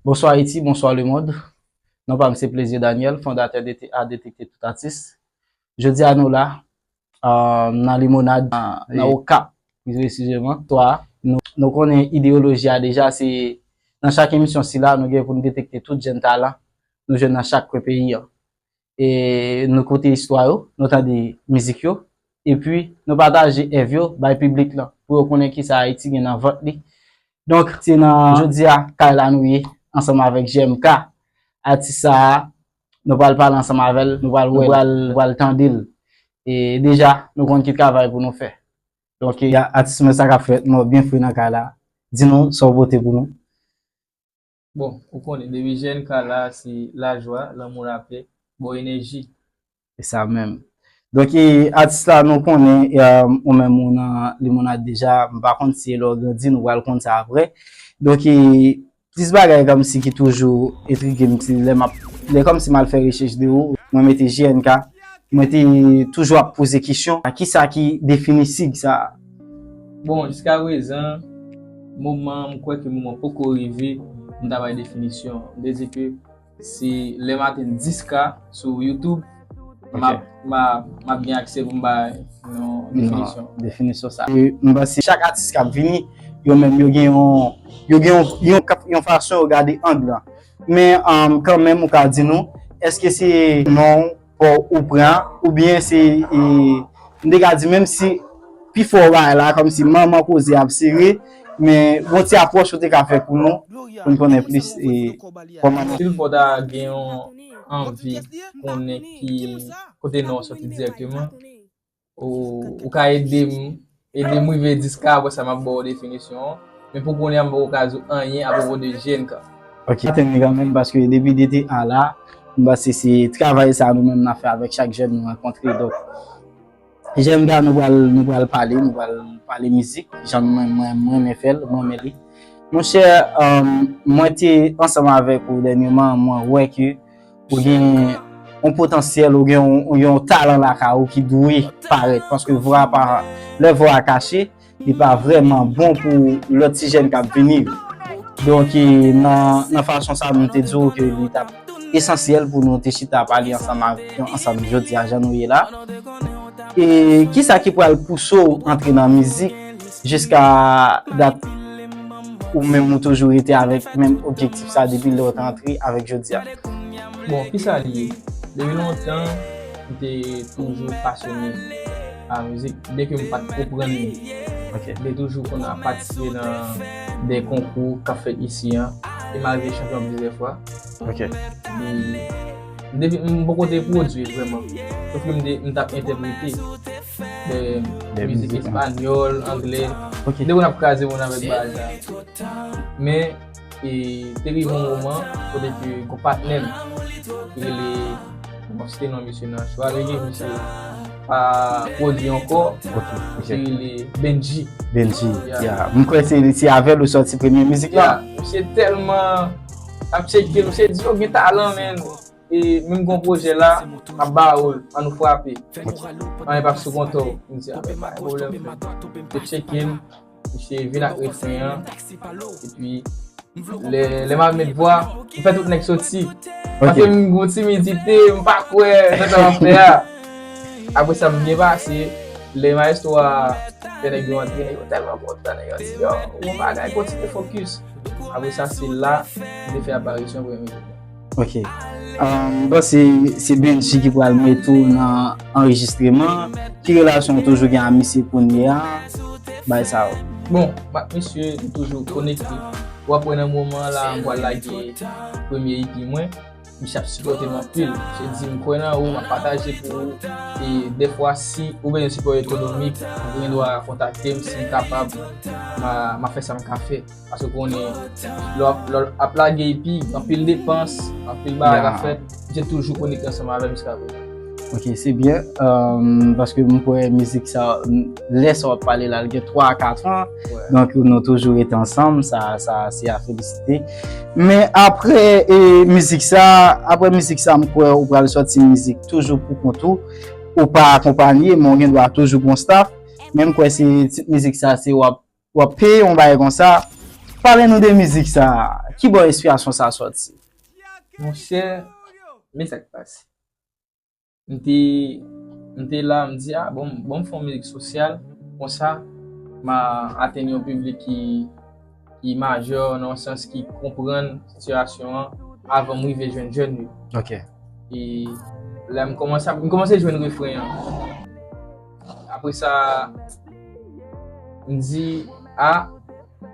Bonswa Ayiti, bonswa lemond. Non pa m se Plaisir Daniel, fondatè DTA, Detekte Tout Atis. Jodi a nou la, nan Limonad, nan Okap, pi presizeman, 3. Nou konnen ideyoloji a deja, se nan chak emisyon sila nou gen pou n detekte tout jenn talan nou jwenn nan chak kwen peyi an. e nou koute istwa yo, nou tande mizik yo, epi nou pataje èv yo bay piblik lan pou yo konnen kisa Ayiti gen nan vant li. Donk, se nan jodi a kay la nou ye ansanm avèk JMK. Atis sa a, nou pral pale ansanm avè l, nou pral wè l, nou pral tande l. E deja, nou konn ki travay pou nou fè. Donk, atis mwen sa k ap fèt? Mwen byen fre nan kay la. Di nou sa w pote pou nou. Bon ou konnen depi jèn ka la se lajwa, lanmou lapè, bon enèji. Se sa menm. Donk e atis la nou konnen ou menm ou nan limonad deja, m pa konn si e lè w grandi nou pral konn sa aprè. Donk e plis bagay kòmsi ki toujou entrige m se lè m ap, lè kòmsi m al fè rechèch de ou, mwen mete JNK, mwen te toujou ap poze kesyon, kisa ki defini sig sa a? Bon, jiska prezan, moman an, m kwè ke moman poko rive pou m ta bay definisyon an. M vle di ke si lè m atenn 10 ka sou YouTube, m ap, m a, m ap gen aksè pou m bay yon definisyon. Yon definisyon sa. E m panse chak atis k ap vini, yo menm yo gen yon, yo gen yon, yon fason yo gade ang lan. Men, kanmenm ou ka di nou, èske se non Fò ou pran ou byen se m te ka di menm si pi fò bagay la kòm si manman koze ap sere men gon ti apwòch ou te ka fè pou nou pou n konnen plis kòman nou. Sil fò ta gen yon anvi konnen ki kote non soti dirèkteman. Ou ka ede m ede m rive 10 ka apre sa m ap ba w definisyon an. Men pou kounye a m poko ka di w anyen apwopo de jèn ka. Ok. Mwen atenn li kanmenm paske depi 2 te a la, m panse se travay sa nou menm n ap fè avèk chak jèn nou rankontre. Donk jèn ka nou pral nou pral pale, nou pral pale mizik jan mwen mwen m renmen fè l, m renmen li. Monchè mwen te ansanm avèk ou dènyeman mwen wè ke Ou gen yon potansyèl, ou gen yon talan lakay ou ki dwe parèt. Paske vwa pa, lè vwa a kache, li pa vreman bon pou lòt ti jèn kap vini yo. Donk e nan fason sa nou te di ou ke li tap esansyèl pou nou te chita pale ansanm avèk nou ansanm jodi a jan nou ye la. E kisa ki pral pouse ou antre nan mizik? Jiska dat ou menm ou toujou rete avèk menm objektif sa depi lè ou te antre avèk jodi a? Bon, kisa li ye? Depi lontan, m te toujou pasyone pa mizik, byen ke m pa t konprann li. M te toujou konn ap patisipe nan de konkou k ap fèt isi an, e m arive chanpyon plizyè fwa. M poko te pwodui vrèman, sofke m t ap entèprete. Fè mizik espanyòl, angle. Ok. Depi nap kraze moun avèk bagay sa yo. Men, e, te rive yon moman, kote ke yon patnè m, ki rele, m pap site non misye nan chwa rege, misye pa pwodui ankò. Ok. Misye rele Bendji. Bendji. Ya. Ya. M kwè se, se avè l ou sòti premye mizik la. Ya. Misye tèlman ap tcheke, misye di, oh gen talan men. E menm gon pwojè la map ba ou l an nou frape anyen pap sou kontè w m di a men pa gen pwoblèm frè m te tcheke l misye vin ak refren an epi lè map met vwa m fè tout nèg soti paske m gon timidite m pa kwè nan sa map fè a apre sa m byen pase lè maestro a fè nèg yo antre nèg yo tèlman kontan nèg yo di yow bon bagay kontinye fokis apre sa se la m te fè aparisyon premye jou mwen. Ok, m panse se Bendji ki pral met ou nan anrejistreman, ki relasyon ou toujou gen a misye kounye a, bay sa yo. Bon, m ak misye nou toujou konekte, w ap wè nan moman an la m pral lage premye EP mwen, misye ap sipòte m anpil, misye di m kwè nan ou, m ap pataje pou ou, e dèfwa si ou bezwen sipò ekonomik, ou gen dwa kontakte m, si m kapab, m a fè sa m ka fè. Paske konnen, lò lò ap lage epi, anpil depans, anpil bagay ap fèt, misye toujou konekte ansanm avèm jiska prezan. Ok, se byen, paske mwen kwè mizik sa, lè sa wap pale la, li gen 3 a 4 an, donk nou toujou rete ansanm, sa sa se a felisite. Men apre e mizik sa, apre mizik sa mwen kwè ou pral sòti yon mizik toujou pou kont ou, ou pa akonpanye, men ou gen dwa toujou gon staff, men mwen kwè se tit mizik sa se wap. Wap peye yon bagay konsa. Pale nou de mizik sa. Ki bò enspirasyon sa soti? Monchè, men sa ki pase. M te, m te la m di a bon m, bon m fè yon mizik sosyal konsa ma atenn yon piblik ki, ki majè nan yon sans ki konprann sitiyasyon an avan m rive jwenn jèn yo. Ok. E la m kòmanse ap, m kòmanse jwenn refren an. Apre sa, m di, a,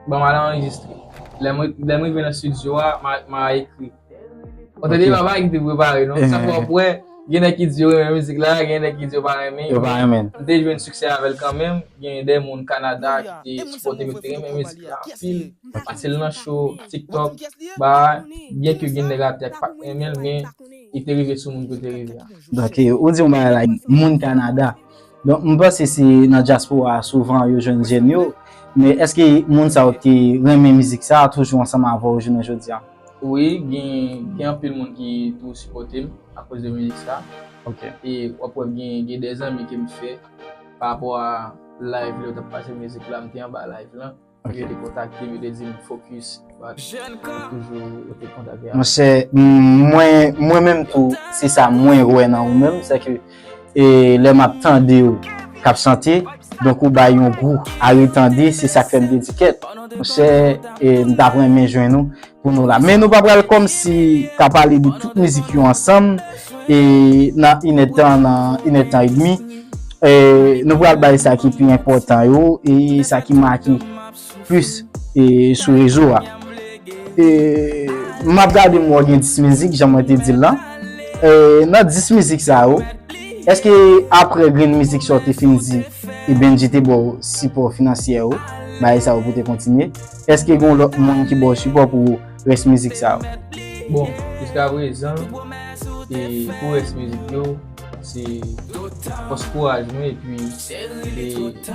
ban m al anrejistre. Lè m rive nan stidyo a, m a ekri. Ou tande, m pa gen te prepare non. Sa fè w wè, gen nèg ki di yo renmen mizik la, gen nèg ki di yo pa renmen. Yo pa renmen. M te jwenn siksè avè l kanmenm. Gen de moun Kanada ki te sipòte m, yo te renmen mizik la anpil. Pase l nan show, TikTok, bagay. Byenke gen nèg atè ki pa t renmen l, men. e te rive sou moun ke w te rive a. Donk ou di yon bagay la, moun Kanada. Donk m panse se nan dyaspora a souvan yo jwenn jèn yo. Men èske moun sa yo ki renmen mizik sa a toujou ansanm avè w jounen jodi a? Wi, gen anpil moun ki toujou sipòte m akoz de mizik sa a. E w ap wè gen de zanmi ke m fè pa rapò a live lè yo t ap pase mizik la, m te anba live lan. Yo te kontakte m, yo te di m fokis, bat, toujou yo te kontakte a. Monchè, mwen menm tou, se sa mwen wè nan ou menm, se ke lè m ap tande ou k ap chante, donk ou bay yon gou a retande, se sa k fè m te di kèt. Monchè, m t ap renmen jwenn ou. pou nou la men nou pa pral kòm si ka pale de tout mizik yo ansanm e nan inè tan nan inè tan edmi e nou pral bay sa ki pi enpòtan yo e sa ki make plis e sou rezo a e map gade mwen gen 10 mizik jan mwen te dil lan e nan 10 mizik sa yo eske apre grenn mizik sa ou te fin di e bndye te baw sipò finansyè yo bay sa ou pou te kontinye. Eske gon lot moun ki baw sipò pou res mizik sa yo? Bon, jiska prezan pou res mizik yo se fos kouraj mwen epi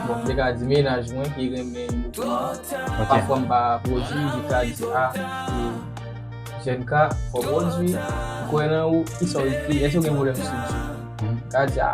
bon te ka di mennaj mwen ki renmen yo kouman. Pafwa m pa pwodwi li ka di a JNK fò pwodwi, m kwè nan ou, kisaw ekri, eske w gen pwoblem sou bgy? Li ka di a.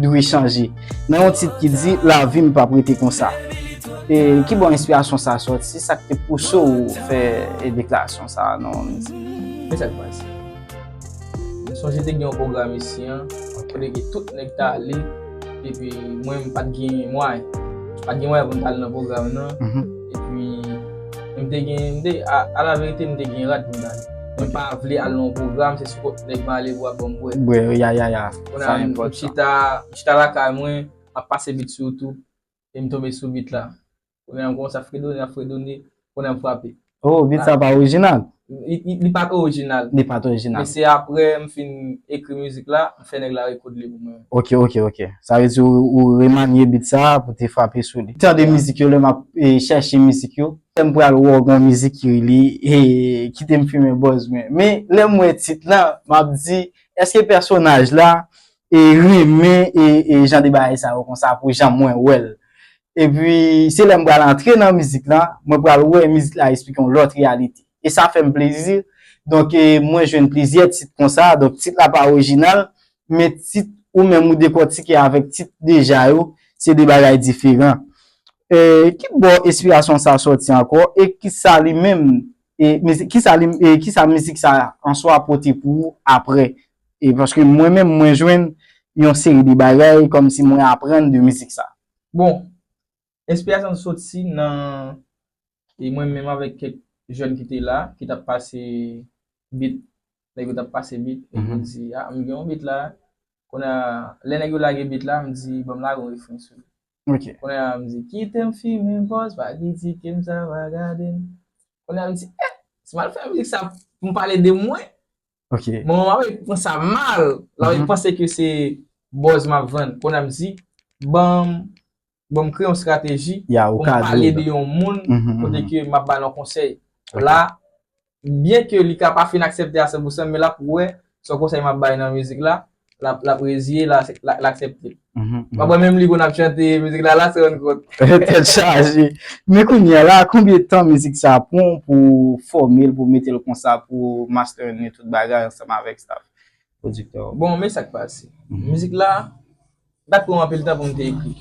dwe chanje nan yon tit ki di lavi m pap rete konsa. E ki bò enspirasyon sa sòti? Sa k te pouse w fè deklarasyon sa a nan yon mizik? Men sa k pase. M sonje te gen yon pwogram isi an kote ke tout nèg ta ale epi mwen m pat gen mwayen. M pat gen mwayen pou m ta ale nan pwogram nan epi m te gen, m te, alaverite m te gen rad pou m ta ale. Mwen pa vle al nan yon pwogram se sou kont nèg m ale pou yo ap ban m bwè. Bwè, ya ya ya. Sa enpòtan. M chita, m chita lakay mwen, m ap pase bit sou YouTube, e m tonbe sou bit la. Kounye a m kòmanse ap fredone, ap fredone, kounye a m frape. Oh, bit sa pa orijinal? Li pa t orijinal. Li pa t orijinal. Men se aprè m fin ekri mizik la, m fè nèg la rekod li pou mwen. Ok, ok, ok. Sa vle di ou remanye bit sa pou te frape sou li. Tande mizik yo lè m ap chèche mizik yo. Lè m pral wè w gen yon mizik ki rele Kite m fimen bòz mwen. Men, lè m wè tit la, m ap di, Eske pèsonaj la renmen jan de bagay sa yo konsa pou jan mwen wè l. Epi se lè m pral antre nan mizik lan mwen pral wè mizik la esplike yon lòt reyalite. E sa fè m plezi. Donk mwen jwenn plizyè tit konsa. Donk tit la pa orijinal men tit ou menm ou dekòtike avèk tit deja yo se de bagay diferan. Ki bò enspirasyon sa sòti ankò e kisa li menm E mizik, ki sa li, e ki sa mizik sa a an swa pote pou ou aprè? E paske mwen menm mwen jwenn yon seri de bagay kòm si mwen aprann de mizik sa. Bon, enspirasyon an soti nan, e mwen menm avèk kèk jèn ki te la, ki t ap pase beat, nèg yo t ap pase beat, e mwen di, a m gen yon beat la, kounye a, lè nèg yo lage beat la, m di, ban m lage yon refren sou li. Ok. Kounye a m di kite m fimen pòz pa kritike m sa pa gade m. Kounye a m di eh si m al fè mizik sa pou m pale de mwen. Ok. Manman m ap wè pran sa mal. L ap panse ke se bòz m ap vann. Kounye a m di banm banm kreye yon strateji pou m pale de yon moun kote ke m ap ba l yon konsèy. La Byen ke li ka pa fin aksepte a san pou san men lap wè son konsèy map bay nan mizik la, lap reziye lap aksepte. Mwen kwè menm li konn ap chante mizik la lase rann kont. Tèt chaje. Men kounya la konbyen tan mizik sa pran pou fòmel pou metel konsa pou master ni tout bagay ansanm avèk staff pwodiktè ou. Bon men sak pase. Mizik la pat pranm anpil tan poum te ekri.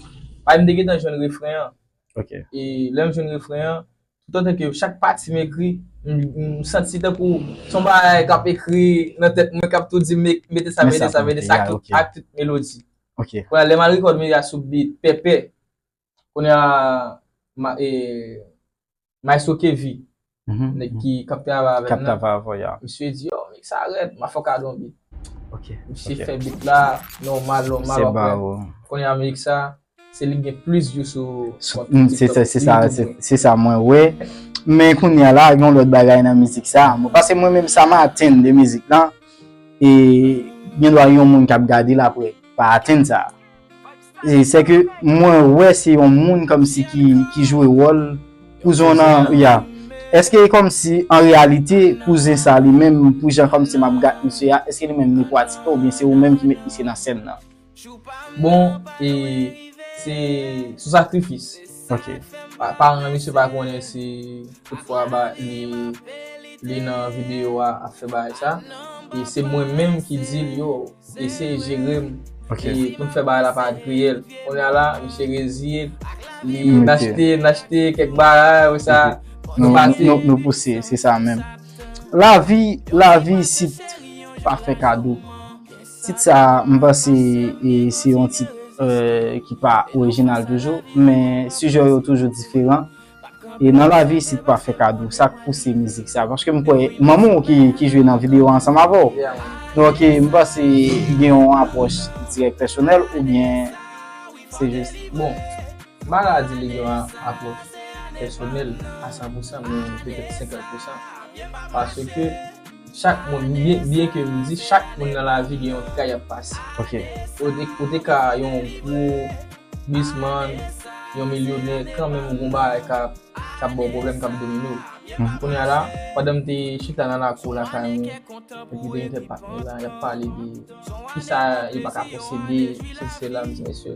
Paske mte gentan jwenn refren an. Ok. E lè m jwenn refren an, tout antan ke chak pati m ekri, m santi tankou s on bagay k ap ekri nan tèt mwen k ap tou di m mete sa, mete sa, mete sa ak tout melodi. Ok. Kounye a lè m al rekòd m ekri a sou beat Pepe, kounye a, Maestro Kevy, nèg ki k ap travay avè m nan, misye di, oh mix sa rèd, m a fè w kado yon beat. Misye fè beat la nòmal nòmal, w ap wè, kounye a mix sa, se li ki gen plis view sou TikTok. Se sa mwen wè. Men kounye a la, gen yon lòt bagay nan mizik sa. Paske mwen menm sa m atenn de mizik lan, e gen dwa yon moun k ap gade l apre pa atenn sa. Se ke mwen wè se yon moun komsi ki jwe wòl kouzon nan ya. Eske e komsi an reyalite kouzen sa li menm pou jan komsi map gat misye ya eske li menm li pratike oubyen se ou menm ki met misye nan sèn nan? Bon e se sou sakrifis. Ok. Paran misye pa konnen si tout fwa ba li nan video a ap fè bagay sa. E se mwen menm ki dil yo. Eseye jere m pou n fè bagay la pa griyèl. Kounye a la, misye reziye l. Li nachte, nachte kèk bagay apre sa nou pati. Nou pouse, se sa menm. Lavi, lavi isit pa fè kado. Tit sa a, m panse se yon tit ki pa orijinal toujou, men sijè yo toujou diferan. E nan lavi isit pa fè kado sak pouse mizik sa paske m kwè manman w ki jwe nan video a ansanm avè w donk m panse gen yon apwòch ki dirèk pèsonèl oubyen se jis bon Mara di li gen yon apwòch pèsonèl a san pousan men petèt senkant pousan paske Chak moun, byen ke m di chak moun nan lavi gen yon tray y ap pase. Ok. Ou te ka yon gwo bizman, yon milyonè, kanmenm ou gen yon bagay k ap ba w pwoblèm, k ap domine w. Kounye a la, pandan m te chita nan lakou lakay mwen, epi te gen kèk patnè la, y ap pale de kisa yo pa ka posede, sesi sela, m di mesye,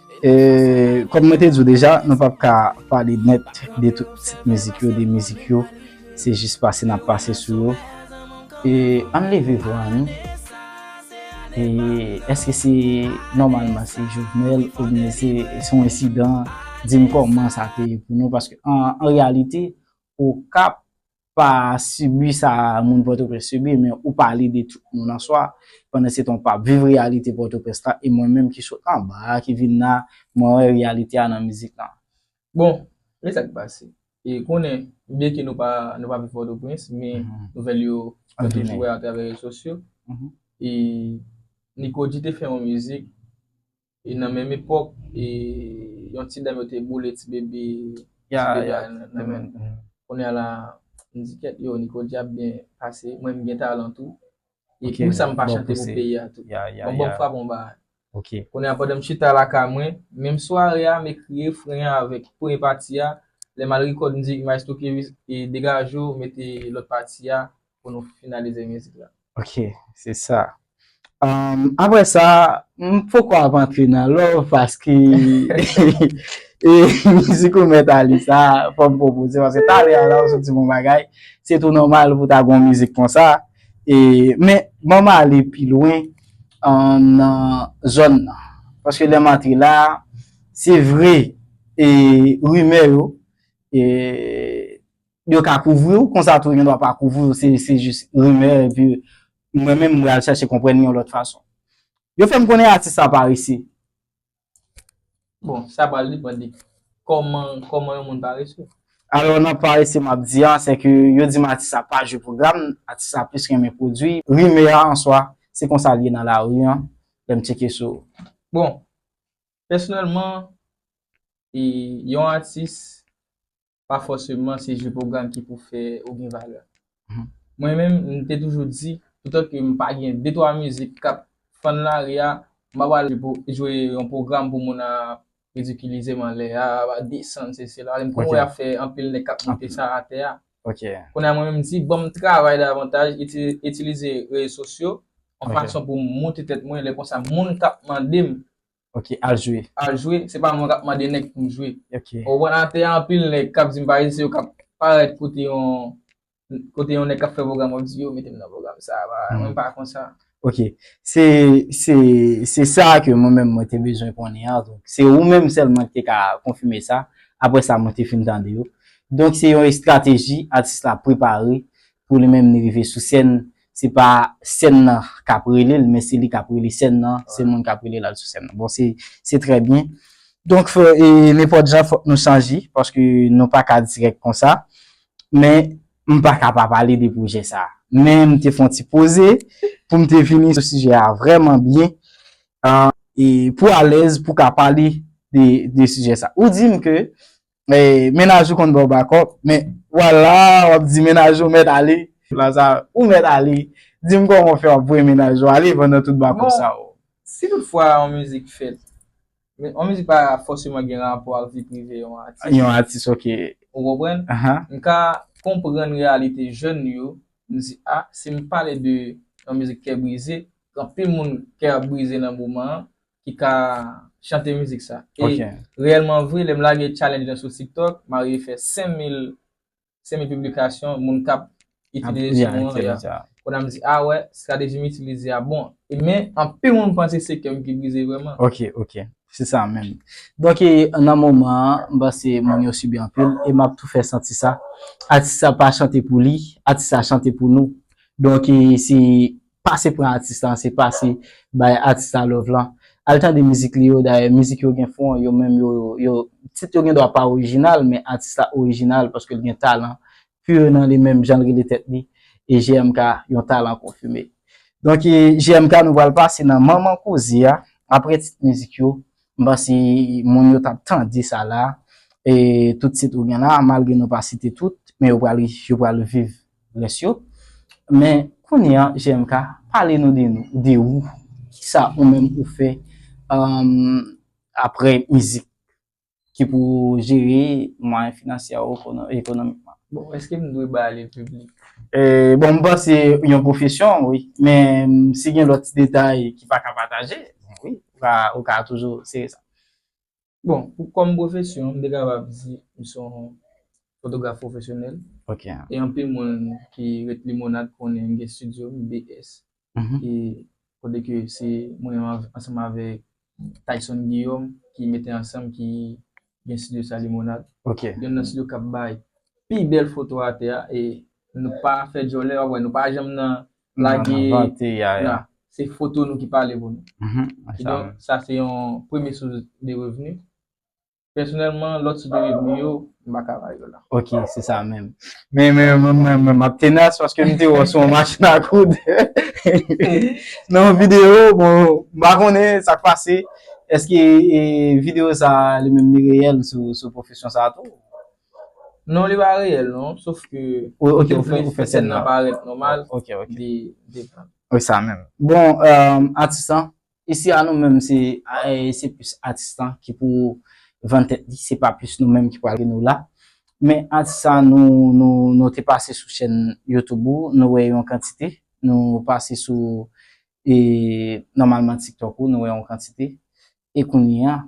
E kòm mwen te di w deja, nou pap ka pale nèt de tout pitit mizik yo, de mizik yo, se jis pase n ap pase sou yo. E ann leve vwa nou, e èske se nòmalman se Jovenel oubyen se se yon ensidan, di m kòman sa te ye pou nou paske an reyalite Okap pa sibi sa moun Pòtoprens sibi men ou pale de tout moun an swa, pandansetan ou pa viv reyalite Pòtoprens la e mwen menm ki sot anba a ki vin la mwen wè reyalite a nan mizik lan. Bon, e sa ki pase? E konnen byenke nou pa viv Pòtoprens men nouvèl yo nou toujou wè atravè rezo sosyo e Nikodji te fè yon mizik E nan menm epòk, e yon ti dam yo te boule ti bebe, ti bebe a nan menm. Kounye a la, m di kèt yo, Niko di ap byen pase, mwen m gen talan tou. E pou sa m pa chante pou peyi a tou. Bon banm frap yon bagay. Kounye a pandan m chita lakay mwen, menm sware a m ekri refren an avèk premye pati a, lè m al rekòd mizik Maestro K-Wiz e degaje w mete lòt pati a. pou nou finalize mizik la. Ok, se sa. Aprè sa, m poko ap antre nan love paske e mizik ou mèt ale sa, fò m pwopoze paske talè a la ou soti bon bagay, se tou nòmal pou ta gon mizik konsa. E men, ban m ale pi lwen nan zòn nan. Paske lè m antre la, se vre e rimè yo e. yo ka kouvri w konsa tou yo gen dwa pa kouvri w se jis rimè epi mwen menm m pral chache konprann yon lòt fason yo fè m konnen atis sa pa rese bon sa pral depan de kòman yon moun pa rese alò nan pa rese m ap di an se ke yo di m atis sa pa jwe pwogram atis sa plis renmen pwodwi rimè a an swa se konsa l ye nan lari an lè m tcheke sou bon pèsonèlman yon atis pa fòseman se je pwogram ki pou fè ou gen valè. Mwen menm, m te toujou di, toutan ke m pa gen de twa mizik k ap fann lari a, m pa pral jwe yon pwogram pou moun ap ridikilize m anlè a, ap desann se se la. M konn wè y ap fè anpil nèg k ap monte sa atè a. Kounye a mwen menm m di, ban m travay davantaj, itilize rezo sosyo yon fason pou m monte tèt mwen, lè konsa moun k ap mande m Ok al jwe. Al jwe, se pa mwen kap mande nèg pou m jwe. Ok. Ou konprann atè a anpil nèg kap di m pale se yo kap parèt kote yon kote yon nèg kap fè pwogram wap di yo mete m nan pwogram sa a mwen pa konsa. Ok se se se sa ke mwen menm mwen te bezwen konnen an donk se ou menm sèlman ki te ka konfime sa aprè sa mwen te fin tande yo donk se yon estrateji atis la prepare pou li menm li rive sou sèn se pa sèn nan kap rele l men se li kap rele sèn nan, se moun kap rele l al sou sèn nan. Bon se trè byen. Donk nenpòt jan fòk nou chanje paske nou pa ka dirèk konsa. Men m pa ka pa pale de pwojè sa. Men m te fon ti poze pou m te vini sou sijè a vrèman byen pou alèz pou ka pale de sijè sa. Ou di m ke Mennaj ou konn baw bakòp men ou al la wap di mennaj ou mèt ale. Lazare, ou mèt ale. Dim kòman ou fè wap voye mennaj ou ale pandan tout bakòp sa yo. Si tout fwa yon mizik fèt, yon mizik pa fòseman gen rapò ak vi prive yon atis. Yon atis ok. Ou konprann? M ka konprann reyalite jèn yo, m di a, si m pale de yon mizik kè brize, anpil moun kè ap brize nan moman an, ki ka chante mizik sa. E reyèlman vre, lè m lage challenge lan sou TikTok, m arive fè 5000, 5000 piblikasyon, moun kap itilize son an. Kounye a m di, a wè, strateji m itilize a bon. E men, anpil moun panse se kè m ki brize vrèman. Ok, ok. Se sa menm. Donk e, nan moman an, m panse moun yo sibi anpil, e m ap tou fè santi sa. Atis la pa chante pou li, atis la chante pou nou. Donk e, se Pase pran atis lan se pase bay atis la love lan al tande mizik li yo dayè mizik yo gen fon yo menm yo yo tit yo gendwa pa orijinal men atis la orijinal paskel gen talan pur nan li menm janl rele tèt li e JMK yon talan konfime donk e JMK nou pral pase nan manman koze a aprè tit mizik yo m panse moun yo tap tande sa la e tout tit ou gen la malgre nou pa site tout men yo pral yo pral viv. rès yo men kounye an GMK pale nou de nou de ou kisa ou menm ou fè aprè mizik ki pou jere mwayen finansyè ou ekonomikman. Bon eske m dwe ba li piblik? Bon m panse yon pwofesyon wi men si gen lòt ti detay ki pa ka pataje wi ou ka toujou sere sa. Bon, pou kòm pwofesyon, m te kapab di m se yon fotograf pwofesyonèl. Ok. E anpil moun ki ret Limonad konnen m gen studio m, BS, ki kote ke se mwen ansanm avèk Tayson Guillaume ki mete ansanm ki gen studio sa Limonad. Ok. Youn nan studio k ap bay pi bèl foto atè a e nou pa fè djòlè w ap wè nou pa janm nan Lage la. Se foto nou ki pale pou nou. Ki donk, sa se yon premye sous de revni. Pèsonèlman, lòt sous de revni yo, m pa ka bay yo la. Ok, se sa menm. Men, men, men, men, men, m ap tenas paske m te wè w sou yon machin a koud. Nan yon videyo, bon, m pa konnen sa k pase. Eske videyo sa li menm li reyèl sou pwofesyon sa a tou? Non li pa reyèl non sof ke Ok ou fè ou fè sèn nan parèt nòmal Ok ok li depan Wi sa menm Bon atis lan isi a nou menm se se plis atis lan ki pou vann tèt li se pa plis nou menm ki pral nou la men atis sa nou nou nou te pase sou chèn youtube ou nou wè yon kantite nou pase sou e nòmalman tiktok ou nou wè yon kantite e kounye a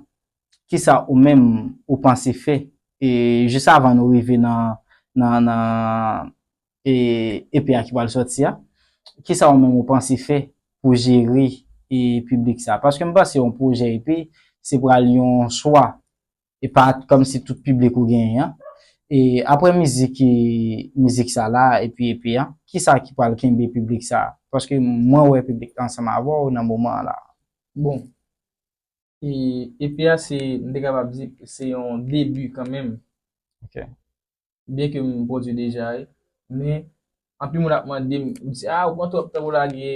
kisa ou menm ou panse fè e jis avan nou rive nan nan nan e epi a ki pral sòti a kisa ou menm ou panse fè pou jere e piblik sa paske m panse yon pwojè epi se pral yon chwa e pa kòm si tout piblik ou genyen an e aprè mizik e mizik sa la epi epi a kisa ki pral kenbe piblik sa paske mwen wè piblik la ansanm avè w nan moman an la bon. E EP a se, m te kapab di, se yon debi kanmenm. Ok. Byen ke m pwodui deja e, men, anpil moun ap mande m, yo di, a, ou pran twòp tan pou w lage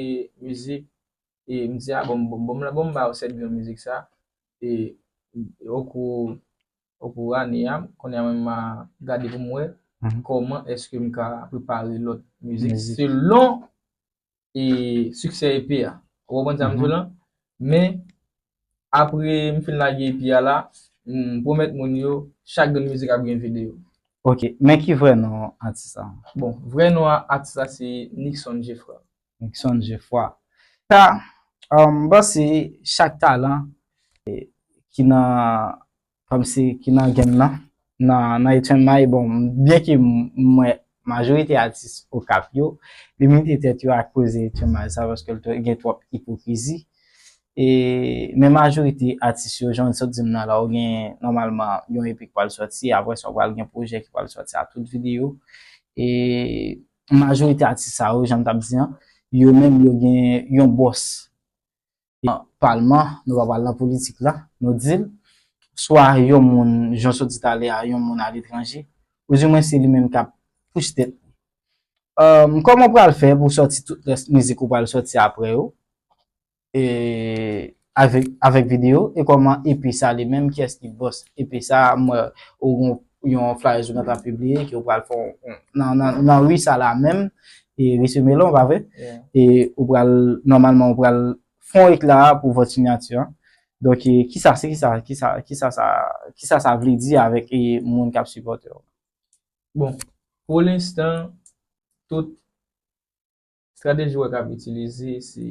mizik, e m di, a, bon, bon m, bon m ba yo 7 grenn mizik sa, e o kou, o kou ane a, kounye a mwen menm ma gade pou m wè, kòman èske m ka prepare lòt mizik selon e succès EP a ou konprann sa m di w lan men apre m fin lage EP a la m pwomèt moun yo chak grenn mizik ap gen video. Ok men ki vrè non atis la? Bon vrè non atis la se Nickson Geffroy. Nickson Geffroy ta m panse chak talan ki nan kòmsi ki nan game nan, nan Etienne Maille bon byen ke m wè majorite atis Okap yo limite tèt yo ak koze Etienne Maille sa paske l gen twòp ipokrizi e men majorite atis yo jan w sot di m nan la ou gen nòmalman yon EP k pral sòti aprè sa ou pral gen pwojè ki pral sòti a tout videyo e majorite atis sa yo jan m t ap di an yo menm yo gen yon bòs. nan palman, nou pa pral nan politik la, nou di l, swa yon moun, jan w sot di talè a, yon moun aletranje, ou di mwen se li menm k ap pouche tèt li. Emm, kòman w pral fè pou w sòti tout rès mizik ou pral sòti aprè yo, e, avèk videyo, e kòman EP sa li menm, kiyès ki bòs EP sa, m wè ou gen yon. yon flyers ou gen tan pibliye ke ou pral fè yon, nan ri sa la menm, e ri se melon pa vre? E ou pral, nòmalman ou pral fè yon ekla pou vòt sinyati an. Donk e, kisa se kisa, kisa, kisa sa, kisa sa vle di avèk e moun k ap sipòte w? Bon, pou lenstan, tout. Strateji wè kap itilize se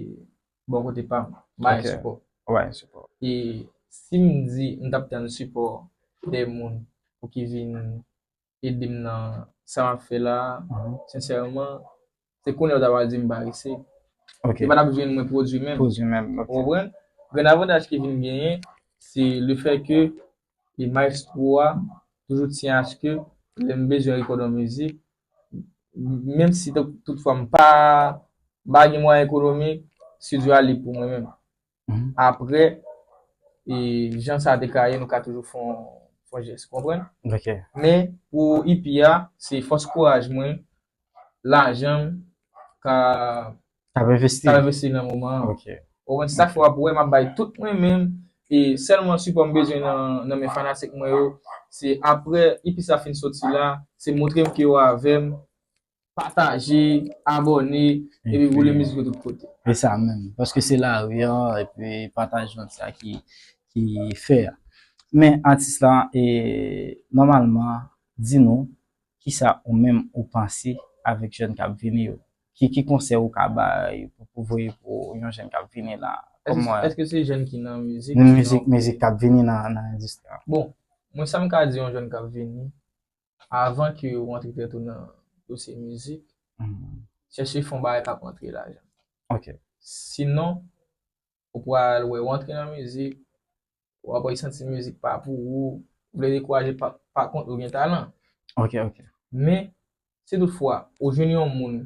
bon kote pam, mayen sipò. Mayen sipò. E sim di m tap tann sipò de moun pou ki vin edem nan sa map fè la, sensèman se kounye ou ta pral dim parese. Ok. Yo pa tap jwenn mwen pwodui menm. Pwodui menm. Ou konprann? Grenn avantaj ki vin genyen se le fè ke e maestro a toujou tyen aske lèm bezwen rekòd yon mizik menm si tout fwa m pa pa gen mwayen ekonomik studio a lib pou mwen menm apre e jan sa te ka ye nou ka toujou fon fon jès ou konprann men pou EP a se fòs kouraj mwen lajan m ka Tap envesti tap envesti nan moman an. Ok. Ou konprann? Se sa k fè w ap wè m ap bay tout mwen menm e sèlman sipò m bezwen nan men fanatik mwen yo se aprè EP sa fin soti la, se montre m ke yo avè m, pataje, abòne epi woule mizik yo tout kote. Se sa menm. Paske se lari an epi pataj lan se sa ki fè a. Men atis la e nòmalman di nou Kisa ou menm ou panse avèk jèn kap vini yo? Ki ki konsèy ou ka bay pou voye pou yon jèn kap vini la? Eske se jèn ki nan mizik? Nan mizik, mizik kap vini nan endistri an. Bon, mwen sa m ka di yon jèn kap vini, avan ke ou antre tèt ou nan dosye mizik, chèche fon bagay kap antre lajan. Ok. Sinon, ou pral wè ou antre nan mizik, ou ap wè santi mizik pa pou ou, ou vle dekouraje pa kont ou gen talan. Ok ok. Men, si tout fwa ou jwenn yon moun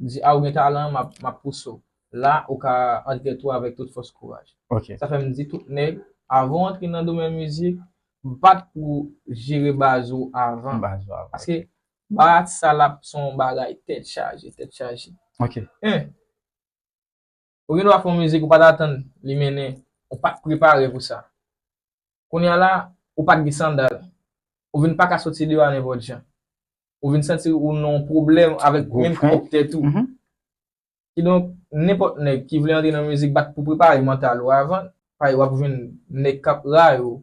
ou di a ou gen talan map pouse w, la ou ka antre tou avèk tout fòs kouraj. Ok. Sa fè m di tout nèg avan w antre nan domèn mizik, bat pou w jere baz ou avan. Baz ou avan. Paske bat sa l ap son bagay tèt chaje, tèt chaje. Ok. 1. Ou gen dwa fè yon mizik ou pa t atann li mennen, ou pa t prepare pou sa. Kounye a la, ou pa t gen sandal, ou vin pa ka soti deyò a nenpòt jan. Ou vin santi ou nan yon pwoblèm avèk menm pwòp tèt ou. Kidonk, nenpòt nèg ki vle antre nan mizik bat pou prepare mantal ou avan, paske w ap jwenn nèg k ap rayi w,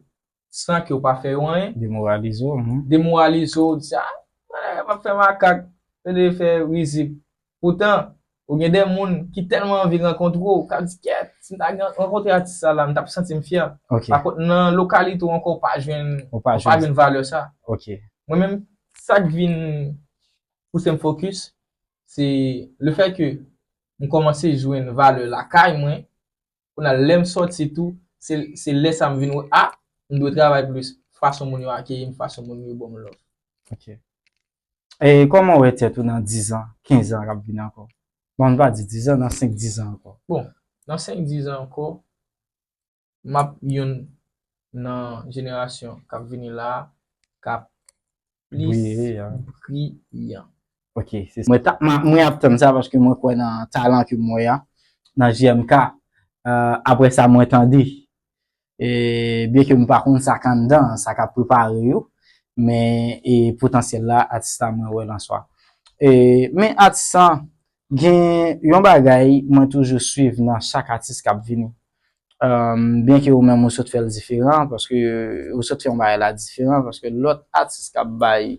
san ke w pa fè yo anyen. Demoralize w. Demoralize w, di se, ah, mwen ap fè makak, yo dwe fè rizib. Poutan, ou gen de moun ki tèlman anvi rankontre w, k ap di, kèt, si m ta gen rankontre atis sa la, m t ap santi m fyè. Pa kont, nan lokalite w ankò, ou pa jwenn, ou pa jwenn valè sa. Mwen menm, sa k vin pouse m fokis, se le fè ke m kòmanse jwenn valè lakay mwen, Kounye a, lè m sòti tou, se lè sa m vin wè, a, m dwe travay plis, fason moun yo akeyi m, fason moun yo ban m love. Ok. E kòman w wè tèt ou nan dizan, kenzan k ap vini ankò? Bon, m va di dizan, nan senk dizan ankò. Bon, nan senk dizan ankò, m ap youn nan jenerasyon k ap vini la a, k ap plis briyan. Ok, se sa. Mwen ap tann sa paske mwen kwè nan talan ke mwen an, nan JMK. Apre sa mwen tande, byen ke mwen pa konn sa k anndan, sa k ap prepare yo, men potansyèl la atis la mwen wè l answa. Men atis lan, Gen yon bagay mwen toujou swiv nan chak atis kap vini. Byen ke ou menm ou sot fèl diferan paske ou sot fè yon bagay la diferan paske lòt atis kap bay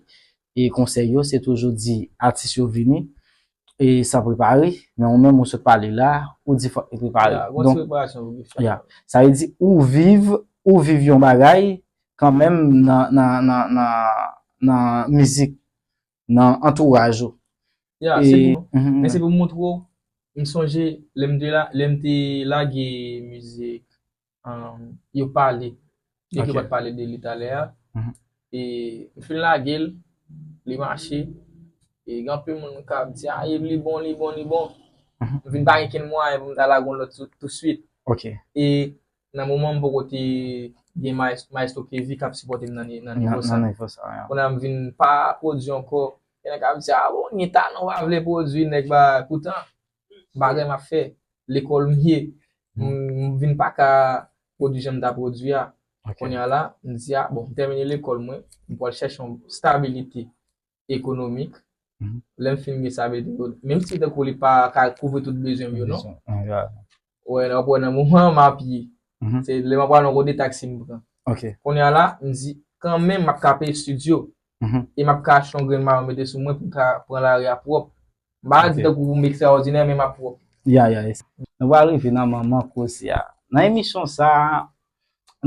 e konsèy yo se toujou di atis yo vini e san prepare men ou menm ou sot pale la ou di fòk li prepare. Ya, gwo ti preparasyon pou ki fèt. Ya. Sa vle di ou viv, ou viv yon bagay kanmenm nan nan nan nan mizik nan antouraj ou. Ya, se pou, men se pou m montre w, m sonje lè m te la, lè m te lage mizik, yo pale, byen ke yo pa t pale de li talè a, e m fin lage l, li mache, e gen anpil moun k ap di, a e li bon, li bon, li bon, m vin pa gen kenn mwayen pou m ta lage yon lòt tou swit. Ok. E nan moman m poko te gen maestro Kevy kap sipòte m nan nivo sa. Nan nivo sa wi. Kounye a m vin pa pwodui ankò. Gen nèg kap di a bon ou gen talan ou pa vle pwodui nèg ba poutan bagay map fè, lekòl m ye m vin pa ka pwodui jan m ta pwodui a. Kounye a la m di a bon m tèmine lekòl mwen m pwal chèche yon stabilite. ekonomik, lè m fin gen sa vle di, menm si tankou li pa ka kouvri tout bezwen m yo non, wè wap wè nan moman an m ap ye, se lè m ap pran gode taksi m pran. Kounye a la, m di kan menm m ap ka peye studio, e m ap ka achte yon grenn mayo mete sou mwen pou m ka pran lari a pwòp. M pa di tankou pou m ekstraòdinè men m ap pwòp. Ya ya, nou pral rive nan manman koze a. Nan emisyon sa a,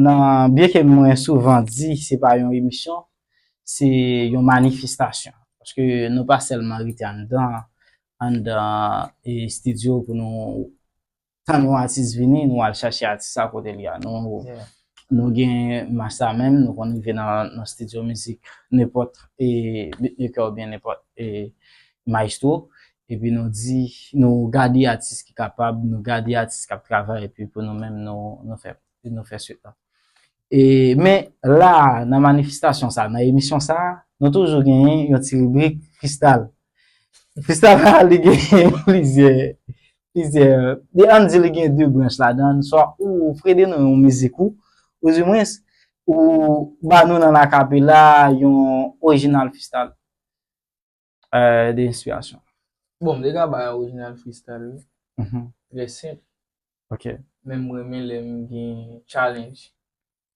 nan byen ke mwen souvan di se pa yon emisyon se yon manifestasyon paske nou pa sèlman rete anndan anndan e stidyo pou nou tann yon atis vini nou al chache atis sa kote li a nou nou gen mach sa menm nou konn rive nan stidyo mizik nenpòt e bitmekè oubyen nenpòt e mayestwo epi nou di nou gade atis ki kapab nou gade atis kap travay epi pou nou menm nou fè nou fè sweet lan e men la nan manifestasyon sa nan emisyon sa nou toujou genyen yon ti ribrik fristal fristal la li genyen plizyè plizyè li an di li genyen 2 branch la dan swa ou frede nou yon mizik ou ou di mwen ou ba nou nan akapela yon orijinal fristal. Euh, de inspirasyon. Bon, m te ka bay yon orijinal freestyle wi. Mhm. Trè senp. Ok. Men m renmen lè m gen challenge.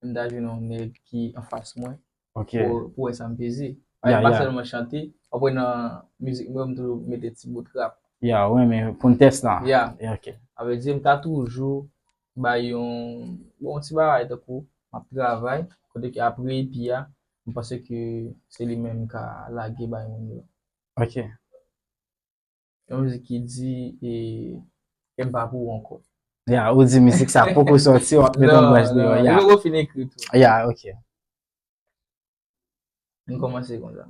M ta jwenn yon nèg ki anfas mwen. Ok. Pou wè sa m peze. Ya, ya. M pa sèlman chante. Ou konn nan mizik mwen yo m toujou mete ti bout rap. Ya, ou renmen pou n tès la. Ya. Ya, ok. A vè di, m ta toujou bay yon, bon, yon ti bagay tankou m ap travay, kote ke apre epi a, M panse ke se li menm m ka lage bay moun yo. Ok. Yon mizik ki di e kèm pa pou ou ankò. Ya, ou di mizik sa poko sòti wap met yon branch deyò. Non, non, li poko fin ekri tou. Ya, ok. M kòmanse konsa.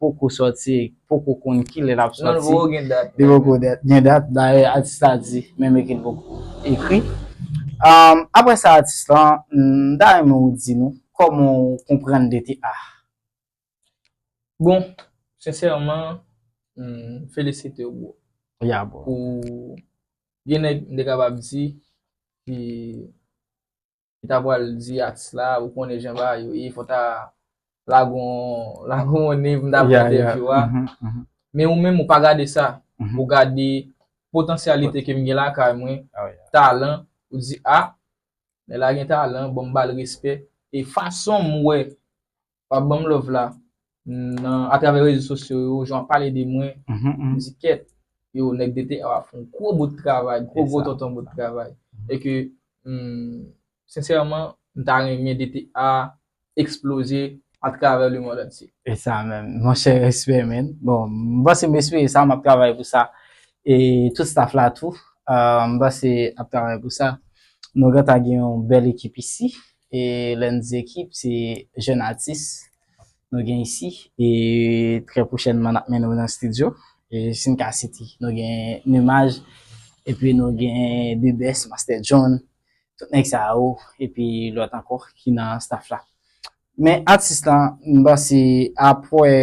poko sòti e poko konn kilè lap sòti. Nan nouvo yo gen dat. Yo poko gen dat. Dayè atis la di menm eke li poko ekri. Aprè sa atis lan, m ta renmen ou di nou kòman ou konprann DTA. Bon, sensèman, m felisite ou bro. Ya bro. Pou gen nèg m te kapab di ki. Li ta pral di atis la ou konnen jan bagay yo ye fò ta lage yon nez pou m ta pran entèvyou a men ou menm ou pa gade sa ou gade potansyalite ke m gen lakay mwen talan ou di a nèg la gen talan bon m ba l respè e fason m wè Wap banm love la nan a travè rezo sosyo yo, jan wap pale de mwen, mdi kèt yo nèg DTR ap fè yon gwo bout travay, gwo gwo tonton bout travay. E ke sensèman m ta renmen DTR eksploze a travè le mond antye. E sa menm. Monchè respè man. Bon, m panse m espere sa, map travay pou sa. E tout staff la tou, m panse ap travay pou sa. Nou gentan gen yon bèl ekip isi. E lè n di ekip, se jèn atis nou gen isi. E trè pwochènman n ap mennen yo nan stidyo. E si n ka site, nou gen Numaj, epi nou gen The Best, Master John, tout nèg sa yo, epi lòt ankò ki nan staff la. Men atis lan, m panse apre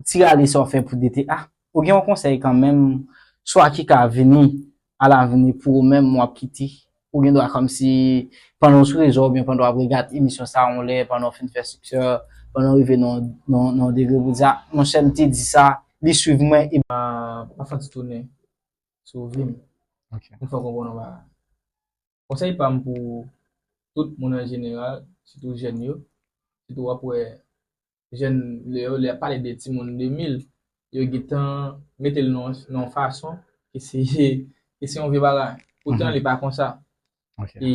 Ti rale sa w fè pou DTA? Ou gen yon konsèy kanmenm swa ki ka vini a lavni pou ou menm wap kite? Ou gen dwa kòmsi pandan w sou rezo oubyen pandan wap regad emisyon sa yon lè, pandan w fin fè siksè, pandan w rive nan yon degre pou w di a monchè m te di sa, li swiv mwen e. Pafwa ti tounen sou vi m. Ok. M fè w konprann yon bagay. Konsèy pam pou tout moun an jeneral sitou jèn yo sitou wap wè jèn lè yo lè yap pale de timoun 2000 yo gentan metel nan yon fason ke se ke se yon vye bagay poutan li pa konsa e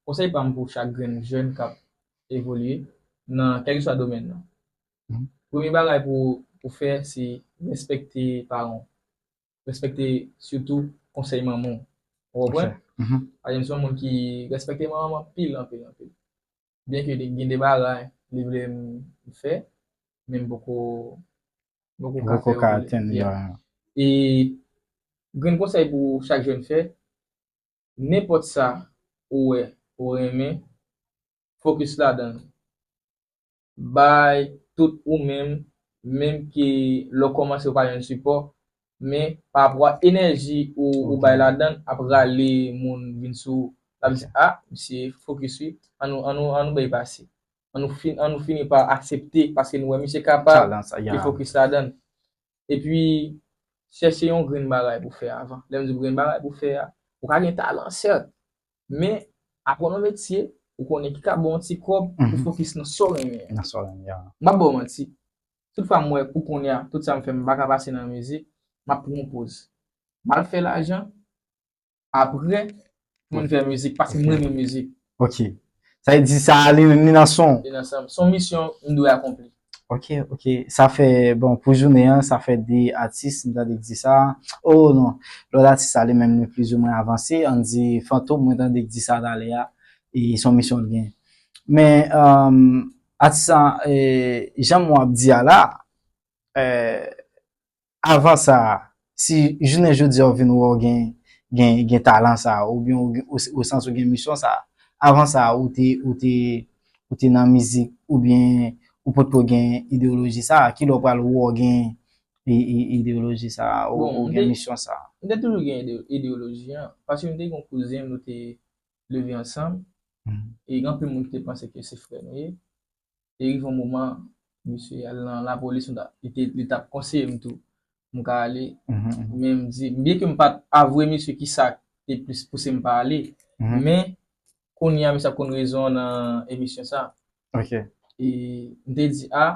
konsèy pam pou chak grenn jèn kap evolye nan kèlkeswa domèn nan premye bagay pou ou fè se respekte paranw respekte sitou konsèy manman w. Ou konprann? Paske m se yon moun ki respekte manman m anpil, anpil, anpil. Byenke gen de bagay li vle m fè, men m poko ka fè yo. E grenn konsèy pou chak jèn fè, nenpòt sa ou wè ou renmen, fokis ladan l. bay tout ou menm menm ke lè w kòmanse ou pa jwenn sipò men pa rapò a enèji ou bay ladann ap rale moun vin sou ou lap di a misye fokis wi annou bay pase annou fini pa aksepte paske nou wè misye kapab li fokis ladann epi chèche yon grenn bagay pou fè avan lèm di grenn bagay pou fè a ou ka gen talan sèt Men, aprann yon metye, ou konnen ki ka ba w yon ti kòb, ou fokis nan sa w renmen an. Nan sa w renmen an. M pap ba w manti, tout fwa m wè pou kounye a, tout sa m fè m pa ka pase nan mizik, m ap pran yon poz. M al fè lajan, apre, m vin fè mizik, paske m renmen mizik. Ok. Sa vle di sa li nan san w? Li nan san m. S on misyon m dwe akonpli. Ok ok sa fè bon pou jounen an sa fè 2 atis m tande k di sa oh non lòt atis sa li menm li plizi mwen avanse an di fantom mwen tande k di sa talè a e son misyon l gen men atis sa janm wap di a la Avan sa, si jounen jodi a ou vin wè w gen gen talan sa a oubyen ou santi ou gen misyon sa a, avan sa ou te ou te ou te nan mizik oubyen ou potko gen ideyoloji sa a, kilè ou pral wè w gen ideyoloji sa a ou gen misyon sa a? M te toujou gen ideyoloji an, paske m te gen yon kouzen nou te leve ansanm e gen anpil moun ki te panse ke se frè nou ye, Te rive yon moman, misye al nan lapolis, m ta, li te, li tap konseye m tou, m ka ale, men m di, byen ke m pat avwe misye ki sa te plis pouse m pa ale, men, kounye a misye ap konn rezon an nan emisyon sa. Ok. E, m te di, a,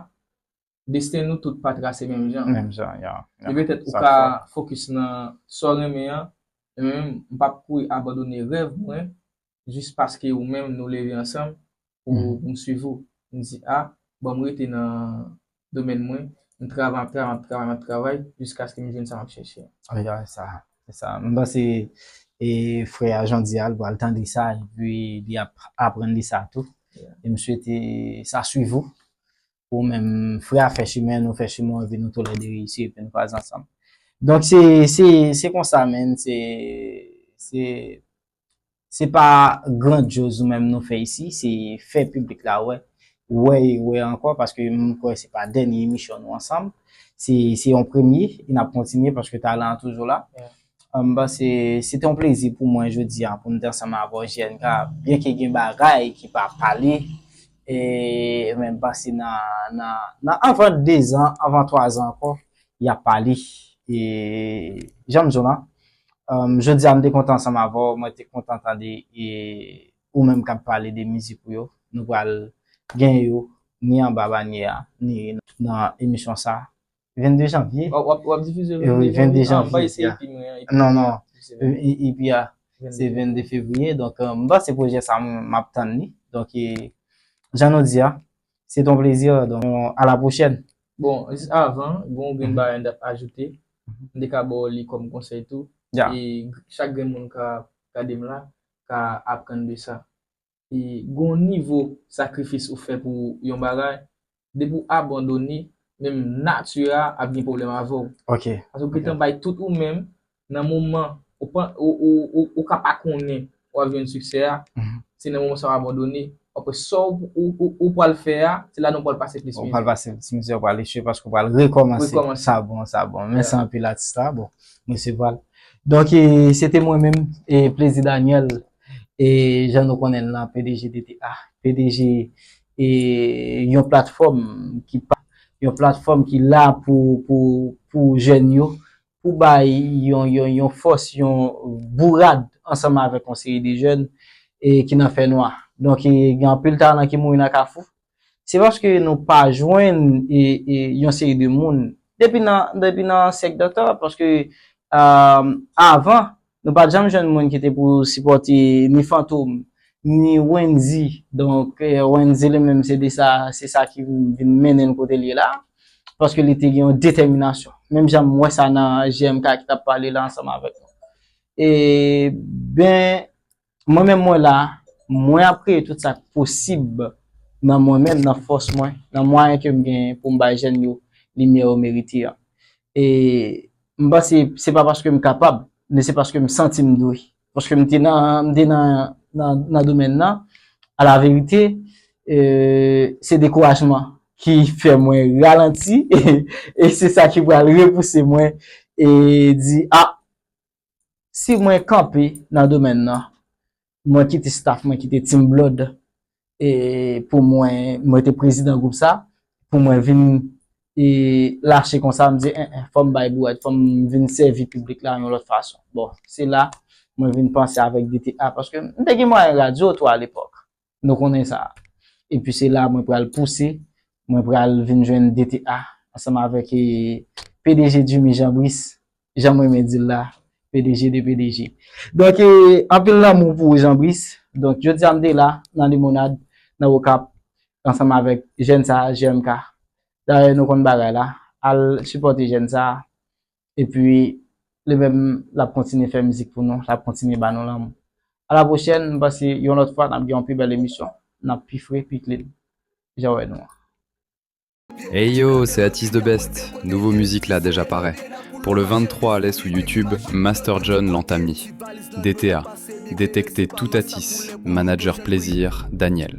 Desten nou tout pa trase menm jan. Menm jan, ya. Li petèt ou ka fokis nan sa w renmen an, men menm m pap kouri abandone rèv mwen jis paske ou menm nou leve ansanm pou m swiv ou. M di a, banm rete nan domèn mwen, m travay, map travay, map travay, map travay jiskaske m jwenn sa map chèche a. Ya, e sa. E sa. M panse frè a Jean di a, li pral tande sa epi li ap aprann de sa tou. E m swete sa swiv ou. pou menm frè a fè chimen nou fè chimen epi nou tou lè 2 reyisi epi nou kwaze ansanm donk se se se konsa menn se se se pa grandyoz nou menm nou fè isi se fè piblik la wè wè e wè ankò paske mwen kwè se pa dènye emisyon nou ansanm se se yon premye e n ap kontinye paske talan an toujou la. M panse se te yon plezi pou mwen jodi a pou m te ansanm avè w JNK. Byenke gen bagay ki pa pale, men m panse nan anvan dezan, anvan twazan ankò, y ap pale. E jan m di w lan, jodi a m te kontan ansanm avè w, mwen te kontan tande ou menm k ap pale de mizik ou yo. Nou pral gen yo ni anba banyè a, ni nan emisyon sa a. 22 janvye. Wap wap difize yo. Oui, 22 janvye. Mwen se epi mwen an. Non, non. Epi a, se 22 fevriye. Donk, mwen pa se pwojè sa mwen ap tann li. Donk, jan nou di a, se ton plezi a. Donk, a la pwochèn. Bon, jis avan, bon ou gen bayan dap ajoute. Mwen de ka baw li kom konsey tou. Ya. E chak gen moun ka gade m la, ka aprann de sa. Gon nivo sakrifis ou fè pou yon bagay, depi ou abandone, menm nature a ap gen pwoblèm avè w. Ok. Paske ou gentan bay tout ou menm, nan moman ou pa, ou ka pa konnen ou ap jwenn siksè a, se nan moman sa ou abandone, aprè sa ou pwal fè a, se la nan ou pwal pase plis mizè. Ou pwal pase plis mizè, ou pwal echwe paske ou pwal rekòmanse. Rekòmanse. Sa bon, sa bon. Mèsi anpil atis la. Bon, mwen se pwal. Donk, se te mwen menm, Plezi Daniel. E jan nou konnen l lan, pdg DTA, pdg e yon platfòm ki pa, yon platfòm ki la pou, pou, pou jèn yo, pou bay yon, yon, yon fòs, yon bourad ansanm avèk yon seri de jèn e ki nan fè nwa. Donk e gen anpil talan ki mouri nan kafou, Se paske nou pa jwenn yon seri de moun, depi nan syèk dantò, paske avan, nou pa t janm jwenn moun ki te pou sipòte ni Fantom, ni Wendy, donk Wendy li menm se de sa, se sa ki vin mennen l kote l ye la, paske li te gen yon detèminasyon. Menm jan m wè sa nan JMK ki t ap pale la ansanm avèk nou. E, ben, Mwen menm mwen la, mwen ap kreye tout sa k posib nan mwen menm, nan fòs mwen, nan mwayen ke m genyen pou m bay jèn yo limyè yo merite an. E m panse se pa paske m kapab, men se paske m santi m dwe. Paske m te nan domèn nan, alaverite, se dekourajman ki fè mwen ralanti e se sa ki pral repouse mwen e di, a, si mwen kanpe nan domèn nan, mwen kite staff mwen, kite Team Blood, e pou mwen, mwen te prezidan gwoup sa, pou mwen vin e lache konsa, mwen di, en en, fò m bay bouwèt, fò m vin sèvi piblik la yon lòt fason. Bon, se la, mwen vin panse avèk DTA, paske m te gen mwayen radyo tou alepòk. Nou konnen sa. Epi se la mwen pral pouse, mwen pral vin jwenn DTA ansanm avèk pdg Jimmy Jean Brice, jan m renmen di l la, pdg de pdg. Donk anpil lanmou pou ou Jean Brice. Donk jodi a m te la nan Limonad, nan Okap ansanm avèk jèn sa JMK. Dayè nou konn bagay la, al sipòte jèn sa. Epi li menm l ap kontinye fè mizik pou nou, l ap kontinye ba nou lanmou. A la pwochèn, m panse yon lòt fwa n ap gen yon pi bèl emisyon, n ap pi fre, pi klin jan w wè nou an. Hey yo, se Atis the best, nouvo mizik la deja parè Pour le 23 ale sou YouTube Master John Lantamy, DTA, Detekte tout Atis, Manager Plaisir, Daniel.